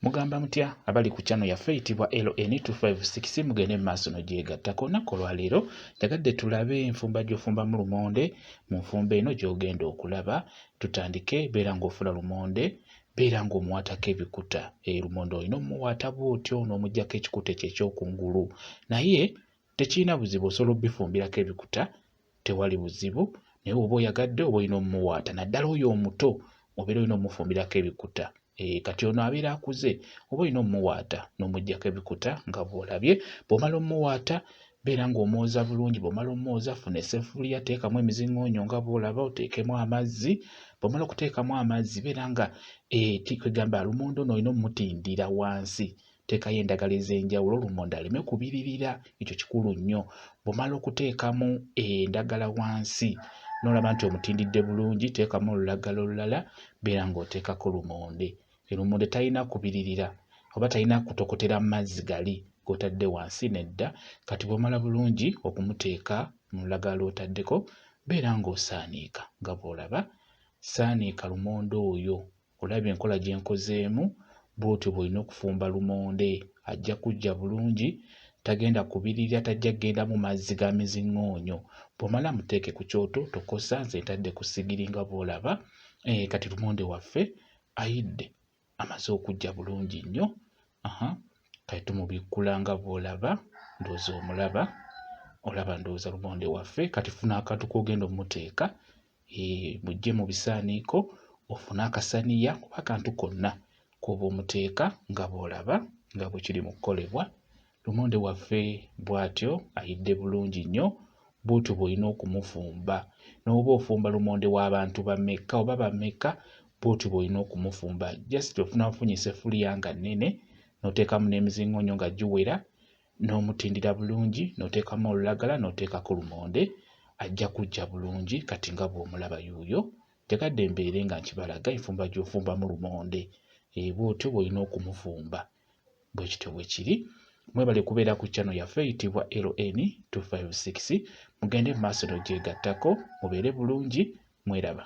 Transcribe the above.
Mugamba mutya abali ku channel yaffe eyitibwa LN256 mugende mu maaso nogyegattako olunaku olwaleero njagadde tulabe enfumba gy'ofumba mu lumonde mu nfumba eno gy'ogenda okulaba tutandike beera ng'ofula lumonde beera ng'omuwaatako ebikuta eyo eh, lumonde olina omuwaata bw'otyo n'omugyako ekikuta ekyo ekyokungulu naye tekirina buzibu osobola obifumbirako ebikuta tewali buzibu naye oba oyagadde oba olina omumuwaata naddala oyo omuto obeera olina omufumbirako ebikuta eh, kati ono abeera akuze oba olina omumuwaata n'omuggyako ebikuta nga bw'olabye bw'omala omumuwaata beera ng'omwoza bulungi bw'omala omwoza funa essefuliya teekamu emizingoonyo nga bw'olaba oteekemu amazzi bw'omala okuteekamu amazzi beera nga eh, kwegamba lumonde ono olina omutindira wansi Teekayo endagala ez'enjawulo lumonde aleme kubiririra, ekyo kikulu nnyo. Bw'omala okuteekamu endagala wansi n'olaba nti omutindidde bulungi, teekamu olulagala olulala, beera ng'oteekako lumonde. Lumonde talina kubiririra oba talina kutokotera mu mazzi gali g'otadde wansi nedda. Kati bw'omala bulungi okumuteeka mu lulagala lw'otaddeko, beera ng'osaaniika nga bw'olaba. Saaniika lumonde oyo Olabye enkola gye nkozeemu? Bw'otyo bw'olina okufumba lumonde. Ajja kuggya bulungi, tagenda kubirira, tajja kugenda mu mazzi ga miziŋŋoonyo. Bw'omala muteeke ku kyoto, tokosa, nze ntadde ku ssigiri nga bw'olaba. Eh, kati lumonde waffe ayidde, amaze okuggya bulungi nnyo. Aha, kati tumubikkula nga bw'olaba, ndowooza omulaba. Olaba ndowooza lumonde waffe. Kati funa akantu k'ogenda omuteeka, mujje mu bisaaniiko ofune akasaniya kuba akantu konna k'oba omuteeka nga bw'olaba nga bwe kiri mu kukolebwa lumonde waffe bw'atyo ayidde bulungi nnyo bw'otyo bw'olina okumufumba n'oba ofumba lumonde w'abantu bamekka oba bamekka bw'otyo bw'olina okumufumba just ofuna ofunyisa effuliya nga nnene n'oteekamu n'emizingoonyo nga giwera n'omutindira bulungi n'oteekamu olulagala n'oteekako lumonde ajja kujja bulungi kati nga bw'omulaba yuuyo njagadde mbeere nga nkibalaga enfumba gy'ofumbamu lumonde eh, bw'otyo bw'olina okumufumba bwe kityo bwe kiri mwebale kubeera ku chano yaffe eyitibwa ln 256 mugende mu maaso n'ogyegattako mubeere bulungi mweraba